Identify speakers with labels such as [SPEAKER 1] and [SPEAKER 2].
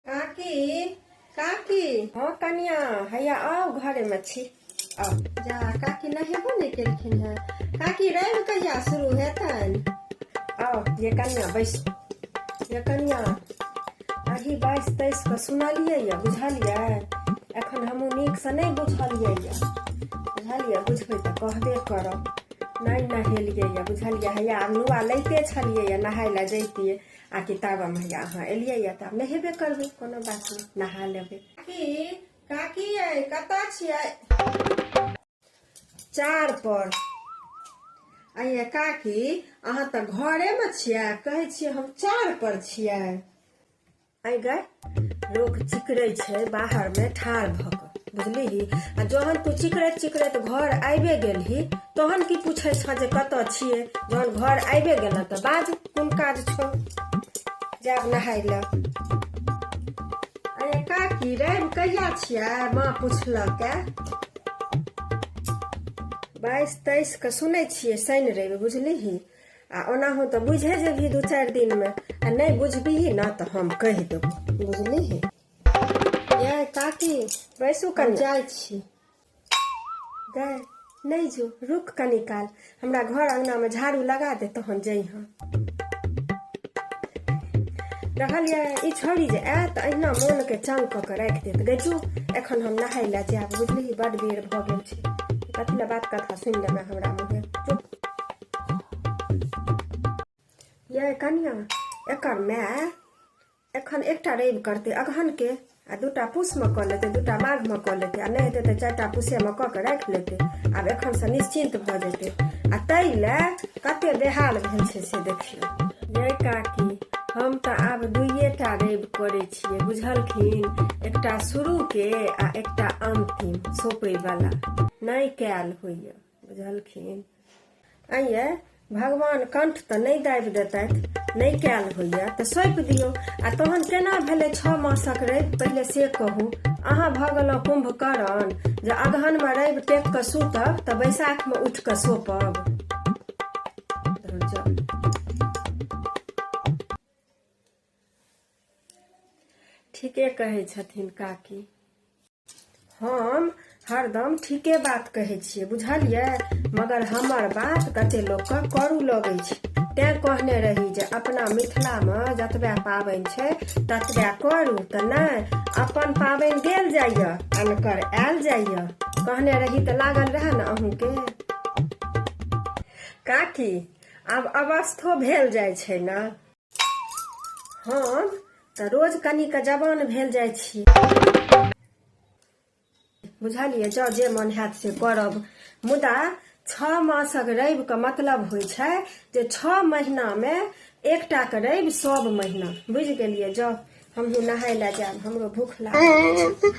[SPEAKER 1] काकी काकी हँ कनिया हैया आउ घरेमे छी आउ जा काकी नहेबो नहि केलखिन हेँ काकी रवि कहिया शुरू हेतन आउ ये कनिया बैस ये कनिया अही बाइस तेइस के सुनलियै यऽ बुझलियै एखन हमहूँ नीकसँ नहि बुझलियै यऽ बुझलियै बुझबै तऽ कहबे करब नहि नहेलियै यऽ बुझलियै हैया आब नुआ लैते छलियै यऽ नहाय लए जैतियै आ कि तब हम हैया अहाँ एलियै यऽ तऽ आब नहेबे करबै कोनो बात नहि नहा लेबै काकी काकी यै कतऽ छियै चार पर अये काकी अहाँ तऽ घरेमे छियै कहै छियै हम चार पर छियै अय गए लोक चिकरे छै बाहर में ठार भऽ कऽ बुझलिही आ जहन तू चिकरैत चिकरैत घर आबे गेलही तहन की पूछे छ जे कत छिए जहन घर आबे गेल तऽ बाज कोन काज छौ जाब नहाय लए अरे काकी रवि कहिया छियै माँ पुछलक बाईस तेईस के सुनै छियै शनि रवि बुझलिही आ ओनाहु तऽ बुझे जेबही दू चारि दिनमे आ नहि बुझबिही ने तऽ हम कहि देबो बुझलिही ये काकी बैसू कनि जाइ छी गए नहि जो रुक कनि काल हमरा घर अङ्गनामे झाड़ू लगा दे तहन जइहाँ रहल ये ई छोड़ी जे आयत अहिना मोनके चंग कऽ के राखि देत गै जो एखन हम नहाय लए जायब बुझलिही बड्ड बेर भऽ गेल छै कथी लए बात कथा सुनि लेबै हमरा मुँहे चुप ये कनिया एकर माय एखन एकटा रवि करते अगहन के आ दूटा पूस में कऽ लेते दूटा माघ में कऽ लेते आ नहीं हेतै तऽ चारिटा पूसे में कऽ के राखि लेते आब एखन से निश्चिंत भऽ जेतै आ ताहि लए कते बेहाल भेल छै से देखियौ ये काकी हम तऽ आब दुइएटा रवि करै छियै बुझलखिन एकटा शुरूके आ एकटा अन्तिम सौँपयवला नहि कयल होइए बुझलखिन अइए भगवान कंठ तऽ नहि दाबि देतथि नहि कयल होइए तऽ सौंपि दियौ आ तहन केना भेलै छओ मासक रवि पहिले से कहू अहाँ भऽ गेलहुँ कुम्भकर्ण जे अगहनमे रवि टेक कऽ सुतब तऽ बैसाखमे उठि कऽ सोपब ठीके कहै छथिन काकी हम हरदम ठीके बात कहै छियै बुझलियै मगर हमर बात कते लोकके करू लगै छै तैं कहने रही जे अपना मिथिलामे जतबे पाबनि छै ततबे करू तऽ नहि अपन पाबनि गेल जाइए अनकर आयल जाइए कहने रही तऽ लागल रहए ने अहूँके काकी आब अवस्थो भेल जाइ छै ने हम तऽ रोज कनी के जवान भेल जाइ छी बुझलियै जँ जे मन हैत से करब मुदा छओ मासक रविके मतलब होइ छै जे छओ महीनामे एकटाके रवि सब महीना बुझि गेलियै जँ हमहूँ नहाय लए जायब हमरो भूख लागल